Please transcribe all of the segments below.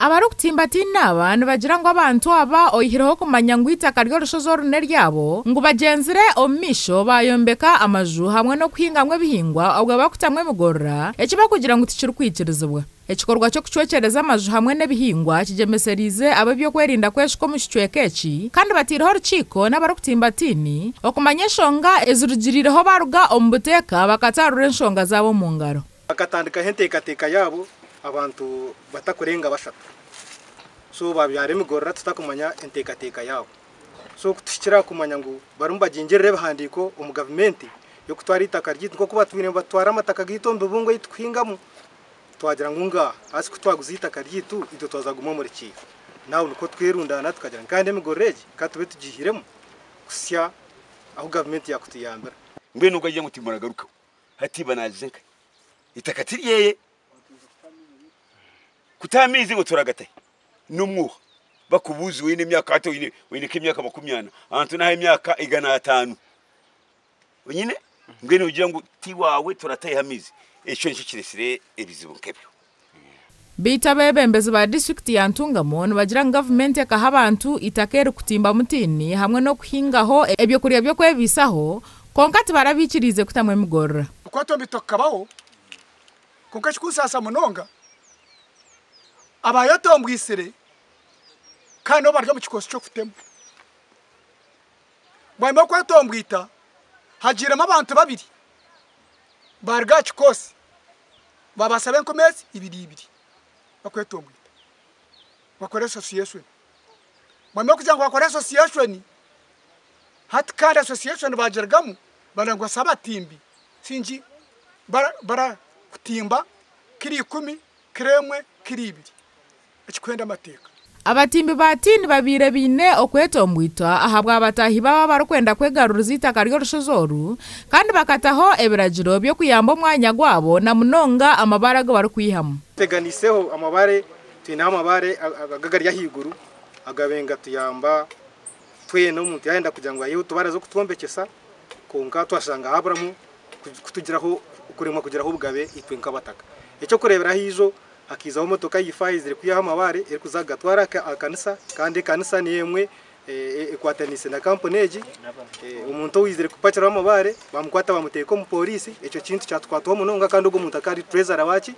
Abarikutimbatiina aba nibagira ngu abantu aba oyihireho kumanya ngu eitaka ry'orushozi oru n'eryabo, ngu bagyenzire omu maisho baayombeka amaju hamwe n'okuhingamu ebihingwa obwe bakutamu emigorora, eki bakugira ngu tikirikwikirizibwa. Ekikorwa ky'okucwekyereza amaju hamwe n'ebihingwa kigyemesereize ab'ebyokwerinda kweshuka omu kicweka eki kandi bateireho orukiiko n'abarikutimbatiini okumanya enshonga ezirugirireho baaruga omu buteeka bakataarura enshonga zaabo omu ngaro. Bakatandikaho enteekateeka yaabo abantu batakurenga bashatu. So baabyara emigorora tutakumanya enteekateeka yaabo. So kutuhikira aha kumanya ngu barimu bagingirira ebihandiiko omu gavumenti y'okutwara eitaka ryaitu nk'oku batwine nibatwara amataka gaitu omu bibungo ei turikuhingamu, twagira ngu nga hasi ku twaguza eitaka ryaitu itwe twaza kuguma omuri ki? Naho nikwo twerundaana tukagira ngu kandi emigorora egi ka tube tugiihiremu kuhitsya ahu gavumenti yaakutuyambira. Mbwenu ogwo agira ngu timuragarukaho. hati iba nagize nka itaka tiryeye kutaha amaizi ngo turagatahe n'omwuha bakubuuza oine emyaka hati oine oine nk'emyaka makumi ana ahantu naha emyaka igana ataano onyine mbwenu ogira ngu tiwaawe turateeho amaizi ekyo nikyo kiretsire ebizibu nk'ebyo. Beitu abebembezi ba disiturikiti ya Ntungamo nibagira ngu gavumenti ekaha abantu itaka erikutimba mutiini hamwe n'okuhingaho ebyokurya by'okwebaisaho kwonka tibara baikiriize kutamu emigorora. Kukwatwa embito kukabaho kwonka ekirikunsaasa munonga abaayetombwisire kandi nibo bari omu kikoosi ky'okutema. Bwanyima y'okwetombwita hagiiremu abantu babiri baaruga aha kikoosi. Baabaasa be enkumi ezi ibiri ibiri bakwetongoita bakore association. Mwami okugira ngu bakore association hati kandi association baagirugamu barangwa si abatimbi singi bara bara kutimba kiro ikumi, kiro emwe, kiro ibiri. ekikuhenda amateeka. Abatimbi ba tiini babaire baine okwetomboitwa ahabwa bataahi baabo abarikwenda kwegaruriza eitaka ry'orushozi oru kandi bakataho ebiragiro by'okuyamba omwanya gwabo na munonga amabaare agu barikwihamu. Tuteganisizeho amabaare, twineho amabaare aga agari ahaiguru agabaire nigatuyamba twena omuntu yaayenda kugira ngu ayiheho otubaraza okutwombekyesa kwonka twashanga haaburamu kutugiraho kuremwa kugiraho obugabe itwe nk'abataka. Eky'okureeberaho eijo hakaizaho motoka ya ifaaha ezire kwihaho amabaare erikuza kugatwara aha kanisa kandi ekanisa niyo emwe ekwataniise na kampuni egi. Omuntu owaizire kupakiraho amabaare bamukwata bamuteeka omu pooriisi. Ekyo kintu kyatukwataho munonga kandi ogwo muntu akaba ari Treasurer waaki?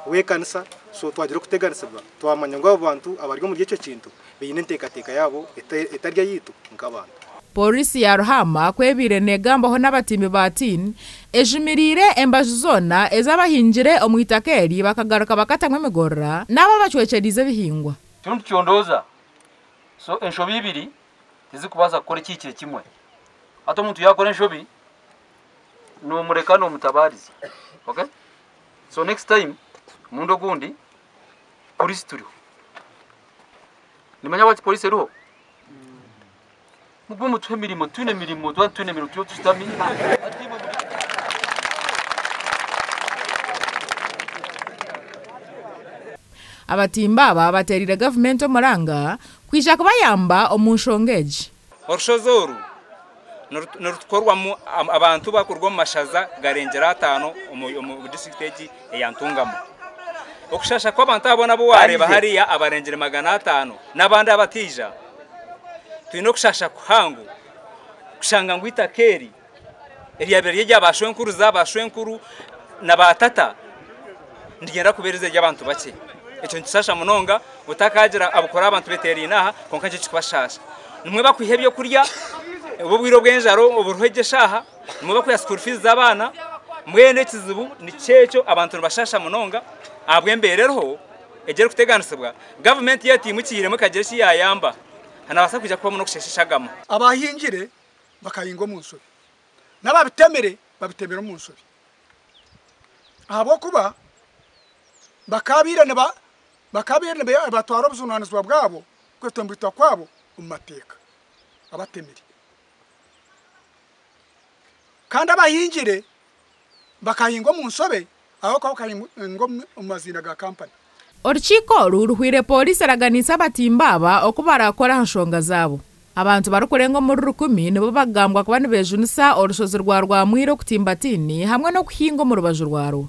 W'ekanisa. So twagira okuteganisibwa twamanya ngu abo bantu abari omuri ekyo kintu baine enteekateeka yaabo etari eyaitu nk'abantu. Pooriisi ya Ruhama ku ebaire neegambaho n'abatimbi ba tin, ejumiriire embaju zoona ez'abahingire omu itaka eri bakagaruka bakatamu emigorora n'abo abacwekyereize ebihingwa. Kirimu nikicondoza so enshobi ibiri tizirikubaasa kukora ekihikire kimwe. Hati omuntu yaakora enshobi noomureka noomutabaariza ok so next time omurundi ogundi Pooriisi turiho. Nimanya bwaki polisi eriho? Mugume mutuhe emirimo, twine emirimo, tuba nitwine emirimo turiyo tushutami. Abatimba aba bateereire gavumenti omuranga kwija kubayamba omu nshonga egi. Orushozi oru nirutukorwamu abantu bakuruga omu mashaza garengyera ataano omu disiturikiti egi eya Ntungamo. Okushasha kw'abantu aba boona abu wareeba hariya abarengyere magana ataano n'abandi abataija, twine okushasha kuhango kushanga ngu itaka eri Eryabeire riri erya baashwenkuruza, baashwenkuru na baatata nirigyenda kubeera eiziina ry'abantu bakye. Ekyo nikishaasha munonga otakaagira ahabw'okuba abantu beeteeraine aha kwonka nikyo kirikubashaasha. Nimwo bakuha eby'okurya obu obwire obw'enjara oburiho egyo eshaaha, nimwo bakuha sukuuru fiizi z'abaana, mbwenu ekizibu nikyo ekyo abantu nibashaasha munonga ahabw'embeera eriho egi erikuteganisibwa. Gavumenti yaateimukiramu ekagira eki yaayamba, hanabaasa kwija kubamu n'okusheesha eshagama. Abaahingire bakahinga omu nshobi, n'ababitemire babitemire omu nshobi ahabw'okuba bakaabaire nibatwara obujunanizibwa bwabo kwetombeitwa kwabo omu mateeka abatemire. Kandi abahingire bakahinga omu nshobe ahabw'okuba bakahinga omu maziina ga kampani. Orukiiko oru ruhweire pooriisi eraganiise abatimba aba oku barakora aha nshonga zaabo. Abantu barikurenga omuri rukumi nibo bakugambwa kuba nibejunisa orushozi rwa Rwamwira okutimba tiini hamwe n'okuhinga omu rubaju rwarwo.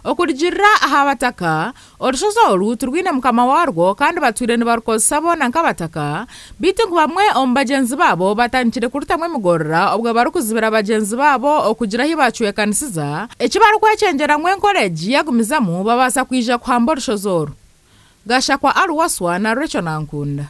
Okurugiirira aha Abataka, orushozi oru tirwine mukama waarwo kandi batwire nibarukozesa boona nk'Abataka, beitu ngu bamwe omu bagyenzi baabo batandikire kurutamu emigorora obwe barikuzibira bagyenzi baabo okugira ahi baacwekanisiza eki barikwekyengyera ngu enkora egi yagumizamu babaasa kwija kuhamba orushozi oru. Gashakwa Al Wasswa na Recho Nankunda.